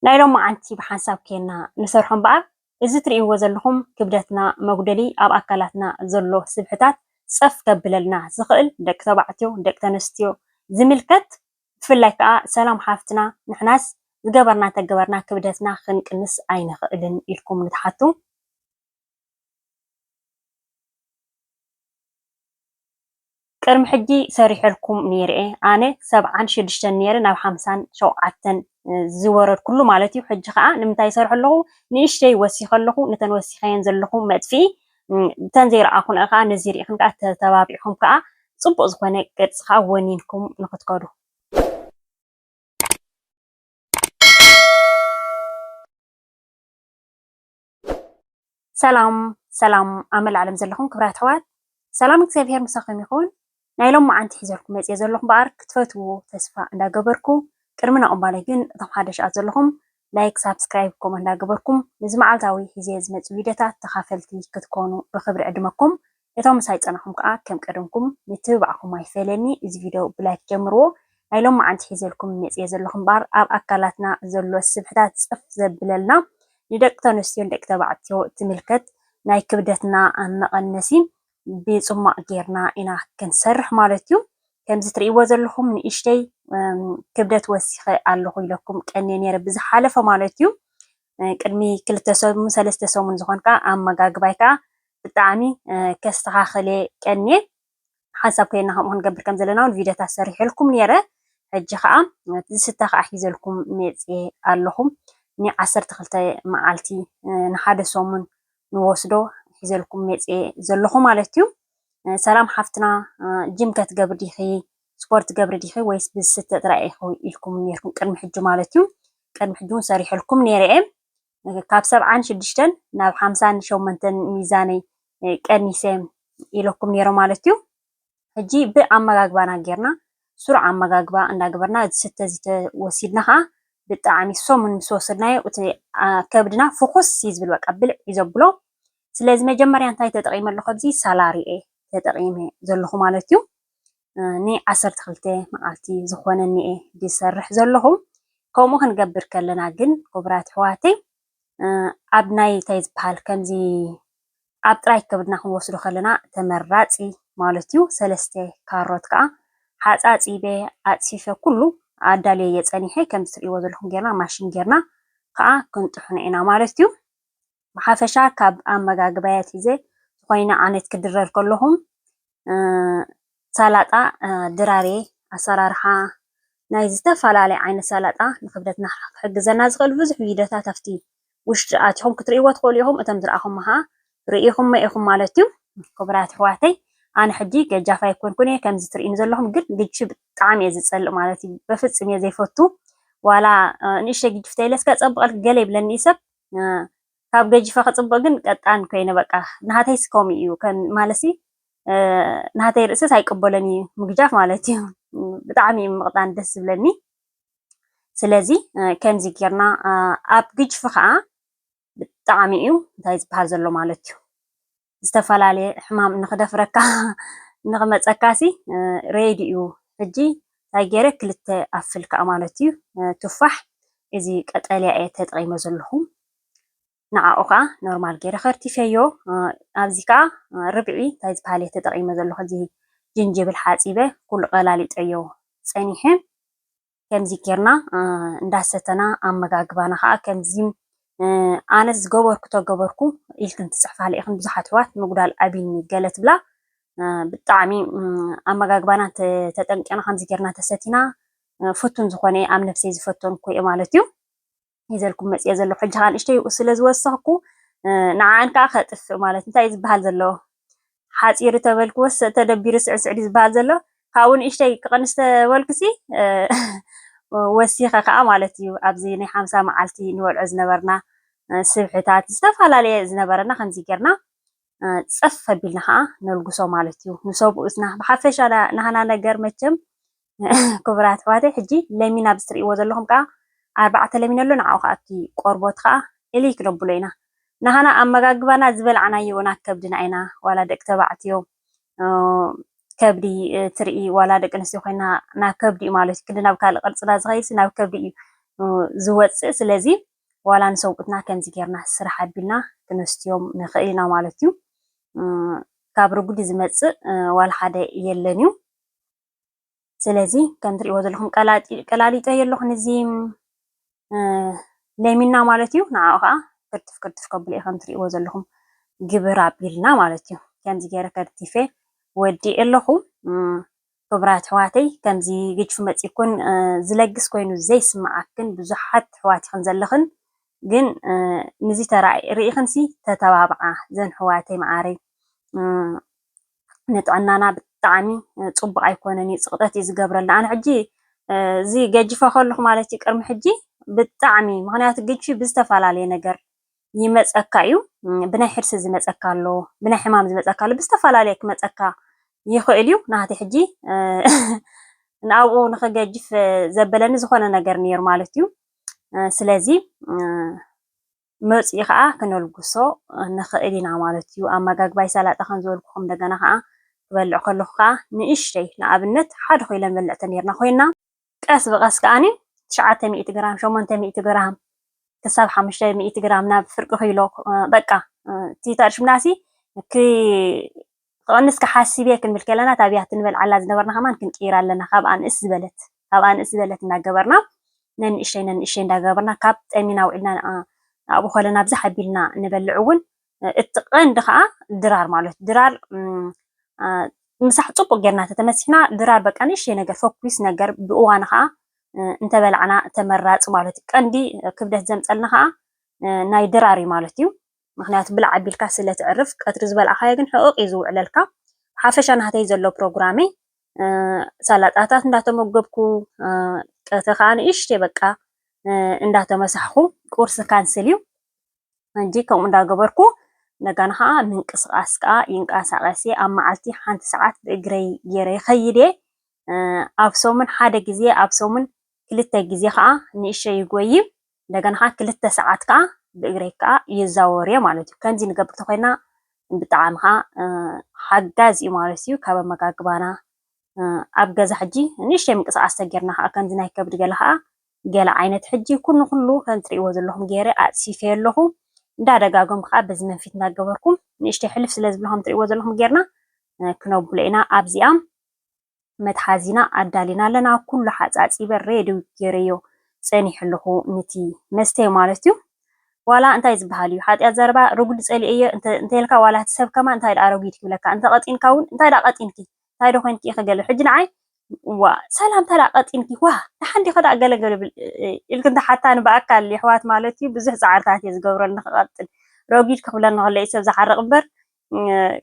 ናይ ሎማዓንቲ ብሓንሳብ ኬና ንሰርሖ እምበኣር እዚ ትርእይዎ ዘለኹም ክብደትና መጉደሊ ኣብ ኣካላትና ዘሎ ስብሕታት ጸፍ ከብለልና ዝኽእል ደቂ ተባዕትዮ ደቂ ተነስትዮ ዝምልከት ብፍላይ ከኣ ሰላም ሓፍትና ንሕናስ ዝገበርና እንተገበርና ክብደትና ክንቅንስ ኣይንኽእልን ኢልኩም ንትሓቱ ቅድሚ ሕጂ ሰሪሐልኩም ኔርየ ኣነ ሰብዓን ሽዱሽተን ኔረ ናብ ሓምሳን ሸውዓተን ዝወረድኩሉ ማለት እዩ ሕጂ ከኣ ንምንታይ ይሰርሖ ኣለኹ ንእሽተይ ወሲኸ ኣለኹ ነተን ወሲኸየን ዘለኹ መጥፍኢ እተን ዘይረኣኹንኣ ከኣ ነዚ ሪኢኽን ከኣ ተተባቢዕኹም ከኣ ጽቡቕ ዝኾነ ቅርጺ ከኣ ወኒንኩም ንኽትከዱ ሰላም ሰላም ኣብ መላእ ዓለም ዘለኹም ክብራት ኣሕዋት ሰላም እግዚኣብሄር ምሳኹም ይኹን። ናይ ሎም መዓንቲ ሒዘልኩም መጽየ ዘለኹ እምበኣር ክትፈትውዎ ተስፋ እንዳገበርኩ ቅድሚ ናቕባለይ ግን እቶም ሓደሻት ዘለኹም ላይክ ሳብስክራይብ ኮመ እንዳገበርኩም ንዚ መዓልታዊ ሒዘ ዝመጽእ ቪድዮታት ተኻፈልቲ ክትኮኑ ብኽብሪ ዕድመኩም እቶም ምሳይ ዝጸናሕኩም ከኣ ከም ቀደምኩም ምትብባዕኩም ኣይፈለየኒ እዚ ቪድዮ ብላይክ ጀምርዎ ናይ ሎምዓንቲ ሒዘልኩም መጽየ ዘለኹ እምበኣር ኣብ ኣካላትና ዘሎ ስብሕታት ጽፍ ዘብለልና ንደቂ ተንስትዮን ደቂ ተባዕትዮ ትምልከት ናይ ክብደትና መቐነሲ ብጽሟቕ ጌርና ኢና ክንሰርሕ ማለት እዩ ከምዚ ትርእይዎ ዘለኹም ንእሽተይ ክብደት ወሲኸ ኣለኹ ኢለኩም ቀንየ ነይረ ብዝሓለፈ ማለት እዩ ቅድሚ ክልተ ሰሙን ሰለስተ ሰሙን ዝኾን ከዓ ኣመጋግባይ ከዓ ብጣዕሚ ከስተኻኽል እየ ቀንየ ሓንሳብ ኮይና ከምኡ ክንገብር ከም ዘለና እውን ቪድዮታት ሰሪሐልኩም ነይረ ሕጂ ከዓ እቲ ዝስተ ከዓ ሒዘልኩም መፅየ ኣለኹ ን ዓሰርተ ክልተ መዓልቲ ንሓደ ሰሙን ንወስዶ ሒዘልኩም መፅየ ዘለኹ ማለት እዩ ሰላም ሓፍትና ጅም ከትገብሪ ዲኺ ስፖርት ገብሪ ዲኺ ወይስ ብዝስተ ጥራይ ኢኹ ኢልኩም ነይርኩም ቅድሚ ሕጂ ማለት እዩ ቅድሚ ሕጂ እውን ሰሪሐልኩም ነይረ እየ ካብ ሰብዓን ሽዱሽተን ናብ ሓምሳን ሸሞንተን ሚዛነይ ቀኒሰ ኢለኩም ነይረ ማለት እዩ። ሕጂ ብኣመጋግባና ጌርና ስሩዕ ኣመጋግባ እንዳገበርና ዝስተ ዝተ ወሲድና ከዓ ብጣዕሚ ሰሙን ምስ ወሰድናዮ እቲ ከብድና ፍኹስ እዩ ዝብል በቃ ብልዕ እዩ ዘብሎ። ስለዚ መጀመርያ እንታይ ተጠቒመ ኣለኹ ኣብዚ ሳላሪ እየ ተጠቒመ ዘለኹ ማለት እዩ። ንዓሰርተ ክልተ መዓልቲ ዝኾነኒ እየ ዝሰርሕ ዘለኹ። ከምኡ ክንገብር ከለና ግን ክቡራት ኣሕዋተይ ኣብ ናይ እንታይ ዝበሃል ከምዚ ኣብ ጥራይ ከብድና ክንወስዶ ከለና ተመራፂ ማለት እዩ። ሰለስተ ካሮት ከዓ ሓፃፂበ ኣፅፊፈ ኩሉ ኣዳልየ እየ ፀኒሐ ከምዚ ትሪእዎ ዘለኹም ጌርና ማሽን ጌርና ከዓ ክንጥሕኖ ኢና ማለት እዩ። ብሓፈሻ ካብ ኣመጋግባይ ኣትሒዘ ዝኾይነ ዓይነት ክድረር ከለኹም ሳላጣ ድራርየ ኣሰራርሓ ናይ ዝተፈላለየ ዓይነት ሳላጣ ንክብደትና ክሕግዘና ዝኽእል ብዙሕ ቪድዮታት ኣብቲ ውሽጢ ኣቲኹም ክትርእይዎ ትኽእሉ ኢኹም እቶም ዝረኣኹም ኸዓ ርኢኹም ኢኹም ማለት እዩ ክቡራት ኣሕዋተይ ኣነ ሕጂ ገጃፍ ኣይኮንኩን እየ ከምዚ ትርእኒ ዘለኹም ግን ግጂ ብጣዕሚ እየ ዝፀልእ ማለት እዩ በፍፅም እየ ዘይፈቱ ዋላ ንእሽተይ ግጅፍተይ ኢለ እስከ ፀብቐልክ ገለ ይብለኒ ሰብ ካብ ገጂፈ ክጽብቅ ግን ቀጣን ኮይነ በቃ ናሃተይስ ከምኡ እዩ ማለትሲ ናሃተይ ርእስስ ኣይቅበሎን እዩ ምግጃፍ ማለት እዩ ብጣዕሚ እዩ ምቅጣን ደስ ዝብለኒ ስለዚ ከምዚ ጌርና ኣብ ግጅፊ ከዓ ብጣዕሚ እዩ እንታይ ዝበሃል ዘሎ ማለት እዩ ዝተፈላለየ ሕማም ንኽደፍረካ ንኽመፀካሲ ሬዲ እዩ ሕጂ እንታይ ገይረ ክልተ ኣፍል ከዓ ማለት እዩ ቱፋሕ እዚ ቀጠልያ እየ ተጠቂመ ዘለኹ ንዓኡ ከዓ ኖርማል ገይረ ከርቲፈዮ ኣብዚ ከዓ ርብዒ እንታይ ዝበሃል እየ ተጠቂመ ዘለኹ እዚ ጅንጅብል ሓፂበ ኩሉ ቀላሊጠዮ ፀኒሐ ከምዚ ጌርና እንዳሰተና ኣመጋግባና ከዓ ከምዚ ኣነ ዝገበርኩ ተገበርኩ ኢልክን ትፅሕፋለ ኢኽን ብዙሓት ኣሕዋት ምጉዳል ኣቢኒ ገለ ትብላ ብጣዕሚ ኣመጋግባና ተጠንቂቕና ከምዚ ጌርና ተሰቲና ፍቱን ዝኾነ ኣብ ነፍሰይ ዝፈተንኩ እየ ማለት እዩ ሒዘልኩም መፂኤ ዘለኹ ሕጂ ከዓ ንእሽተይ ስለ ዝወሰኽኩ ንዓኣን ከዓ ከጥፍእ ማለት እንታይ ዝበሃል ዘሎ ሓፂሩ ተበልክወስ ተደቢሩ ስዕስዕ ድዩ ዝበሃል ዘሎ ካብኡ ንእሽተይ ክቕንስ ተበልኩሲ ወሲኸ ከዓ ማለት እዩ ኣብዚ ናይ ሓምሳ መዓልቲ ንበልዖ ዝነበርና ስብሕታት ዝተፈላለየ ዝነበረና ከምዚ ጌርና ጸፍ ኣቢልና ኸዓ ነልግሶ ማለት እዩ ንሰብኡትና ብሓፈሻ ናህና ነገር መቸም ክቡራት ኣሕዋተይ ሕጂ ለሚን ኣብዚ ትርእይዎ ዘለኹም ከዓ ኣርባዕተ ለሚን ኣሎ ንዓኡ ከዓ እቲ ቆርቦት ከዓ እሊ ክነብሎ ኢና ናህና ኣመጋግባና ዝበላዕናዮ ና ከብድና ኢና ዋላ ደቂ ተባዕትዮ ከብዲ ትርኢ ዋላ ደቂ ኣንስትዮ ኮይና ናብ ከብዲ እዩ ማለት እዩ ክንዲ ናብ ካልእ ቅርፅና ዝኸይድሲ ናብ ከብዲ እዩ ዝወፅእ ስለዚ ዋላ ንሰብኡትና ከምዚ ጌርና ስራሕ ኣቢልና ክነስትዮም ንኽእል ኢና ማለት እዩ። ካብ ርጉዲ ዝመጽእ ዋላ ሓደ የለን እዩ። ስለዚ ከም ትሪእዎ ዘለኹም ቀላሊጠ የለኹ ንዚ ለሚና ማለት እዩ። ንዓኡ ከዓ ክርትፍ ክርትፍ ከብሎ እዩ ከም ትሪእዎ ዘለኹም ግብር ኣቢልና ማለት እዩ። ከምዚ ገይረ ከርቲፌ ወዲእ ኣለኹ። ክብራት ኣሕዋተይ ከምዚ ግጅፊ መጺኩን ዝለግስ ኮይኑ ዘይስማዓክን ብዙሓት ኣሕዋት ኢክን ዘለክን ግን ንዚ ተራይ ሪኢክንሲ ተተባብዓ ዘን ኣሕዋተይ ማዓረይ ንጥዕናና ብጣዓሚ ጹቡቅ ኣይኮነን ኢዩ ጽቅጠት ኢዩ ዝገብረልና ኣነ ሕጂ እዚ ገጅፈ ከለኩ ማለት ኢዩ ቅርሚ ሕጂ ብጣዓሚ ምክንያቱ ግጅፊ ብዝተፋላለየ ነገር ይመፀካ እዩ። ብናይ ሕርሲ ዝመፀካ ኣሎ፣ ብናይ ሕማም ዝመፀካ ኣሎ፣ ብዝተፈላለየ ክመፀካ ይኽእል እዩ። ናህቲ ሕጂ ንኣብኡ ንኽገጅፍ ዘበለኒ ዝኾነ ነገር ነይሩ ማለት እዩ። ስለዚ መፅኡ ከዓ ክነልጉሶ ንኽእል ኢና ማለት እዩ። ኣመጋግባይ ሰላጣ ከም ዝበልኩኹም እንደገና ከዓ ክበልዕ ከለኹ ከዓ ንእሽተይ ንኣብነት ሓደ ኮይለን በልዕተ ነይርና ኮይና ቀስ ብቐስ ከኣ ትሽዓተ ሚእቲ ግራም፣ ሸሞንተ ሚእቲ ግራም ክሳብ ሓሙሽተ ሚእቲ ግራም ናብ ፍርቂ ኪሎ በቃ እቲ ተርሽምናሲ ክቐንስ ክሓስብ እየ ክንብል ከለና እታ ብያቲ ንበልዓላ ዝነበርና ከማን ክንቅይራ ኣለና ካብ ኣንእስ ዝበለት ካብ ኣንእስ ዝበለት እናገበርና ነንእሽተይ ነንእሽተይ እንዳገበርና ካብ ጠሚና ውዒልና ኣብኡ ከለና ብዛሕ ኣቢልና ንበልዕ እውን እቲ ቀንዲ ከዓ ድራር ማለት ድራር ምሳሕ ፅቡቅ ጌርና ተተመሲሕና ድራር በቃ ንእሽተይ ነገር ፈኲስ ነገር ብእዋኑ ከዓ እንተበላዕና ተመራፂ ማለት እዩ። ቀንዲ ክብደት ዘምፀልና ከዓ ናይ ድራር እዩ ማለት እዩ። ምክንያቱ ብላዕ ኣቢልካ ስለ ትዕርፍ ቀትሪ ዝበልዓካዮ ግን ሕቕቕ እዩ ዝውዕለልካ። ሓፈሻ ናህተይ ዘሎ ፕሮግራመይ ሰላጣታት እንዳተመገብኩ ቀትሪ ከዓ ንእሽተይ በቃ እንዳተመሳሕኹ ቁርሲ ካንስል እዩ። ሕጂ ከምኡ እንዳገበርኩ እንደገና ኸኣ ምንቅስቓስ ከኣ ይንቀሳቐስ እየ። ኣብ መዓልቲ ሓንቲ ሰዓት ብእግረይ ጌረ ይኸይድ እየ። ኣብ ሰሙን ሓደ ግዜ ኣብ ሰሙን ክልተ ግዜ ኸኣ ንእሸተይ ይጎዪ። እንደገና ኸኣ ክልተ ሰዓት ከኣ ብእግረይ ከኣ ይዛወር እየ ማለት እዩ። ከምዚ ንገብር ተኾይና ብጣዕሚ ኸኣ ሓጋዚ እዩ ማለት እዩ። ካብ ኣመጋግባና ኣብ ገዛ ሕጂ ንእሽተይ ምንቅስቓስ ተጌርና ኸኣ ከምዚ ናይ ከብዲ ገለ ኸኣ ገለ ዓይነት ሕጂ ኩን ንኹሉ ከም ትርእይዎ ዘለኹም ጌረ ኣጽፊፈዮ ኣለኹ እንዳ ደጋገምኩ ከኣ በዚ መንፊት እንዳ ገበርኩ ንእሽተይ ሕልፍ ስለ ዝብሎ ከም ትርእይዎ ዘለኹም ጌርና ክነብሎ ኢና ኣብዚኣ መትሓዚና ኣዳሊና ኣለና ኩሉ ሓጻጺበ ሬዲ ጌረዮ ጸኒሐ ኣለኹ ንቲ መስተይ ማለት እዩ ዋላ እንታይ ዝበሃል እዩ ሓጢኣት ዘረባ ርጉድ ጸሊኤዮ እንተ እንተልካ ዋላ እቲ ሰብ ከማን እንታይ ደኣ ኣሮጊት ክብለካ እንተ ቀጢንካ ውን እንታይ ደኣ ቀጢንኪ እንታይ ዶ ኮይንኪ ኢኪ ገለ ሕጂ ንዓይ ዋእ ሰላምታ ደኣ ቀጢንኪ ዋእ ደሓን ዲኪ ደኣ ገለ ገለ ኢልኪ እንተሓታኒ ብኣካል የሕዋት ማለት ዩ ብዙሕ ጻዕርታት እየ ዝገብረሉ ንክቀጥን ረጒድ ክብለኒ ከሎ ዩ ሰብ ዝሓርቅ እምበር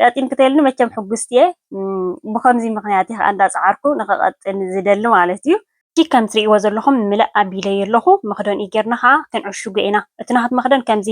ቀጢንኪ ተይልኒ መቸም ሕጉስቲ እየ ብከምዚ ምክንያት እየ ከኣ እንዳ ጻዓርኩ ንክቀጥን ዝደሊ ማለት ዩ እቲ ከም ትርእይዎ ዘለኩም ምልእ ኣቢለዮ ኣለኩ መክደንኡ ጌርና ከኣ ክንዕሽጎ ኢና እቲ ናቱ መክደን ከምዚ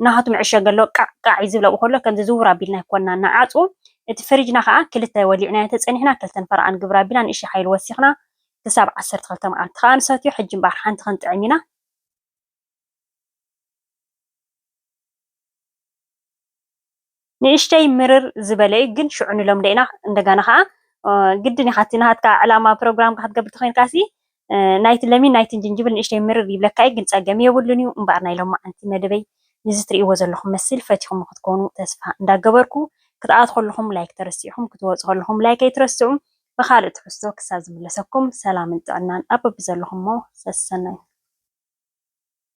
ናሃቱ መዐሸጊ ኣለዎ ቃዕ ቃዕ እዩ ዝብል ኣብኡ ከሎ ከምዚ ዝውር ኣቢልና ኮና ንዓጹ እቲ ፍሪጅና ከኣ ክልተ ወሊዕናዮ ተጸኒሕና ክልተ ንፈረቓ ንግብር ኣቢልና ንእሽተይ ሓይሊ ወሲኽና ክሳብ ዓሰርተ ክልተ መዓልቲ ከኣ ንሰትዮ ሕጂ እምበኣር ሓንቲ ክንጥዕም ኢና ንእሽተይ ምርር ዝበለ እዩ ግን ሽዑ ንለምዶ ኢና እንደጋና ከኣ ግድን ኢካ እቲ ናሃትካ ዕላማ ፕሮግራም ክትገብር ተኮይንካሲ ናይቲ ለሚን ናይትን ጅንጅብል ንእሽተይ ምርር ይብለካ እዩ ግን ጸገም የብሉን እዩ እምበኣር ናይ ሎማዓንቲ መደበይ ንዚ ትርእይዎ ዘለኩም መስል ፈቲኩሞ ክትኮኑ ተስፋ እንዳገበርኩ ክትኣትዉ ከለኩም ላይክ ተረሲዕኩም ክትወጹ ከለኩም ላይክ ኣይትረስዑ ብካልእ ትሕዝቶ ክሳብ ዝምለሰኩም ሰላምን ጥዕናን ኣብ በብዘለኩሞ ሰሰናዩ።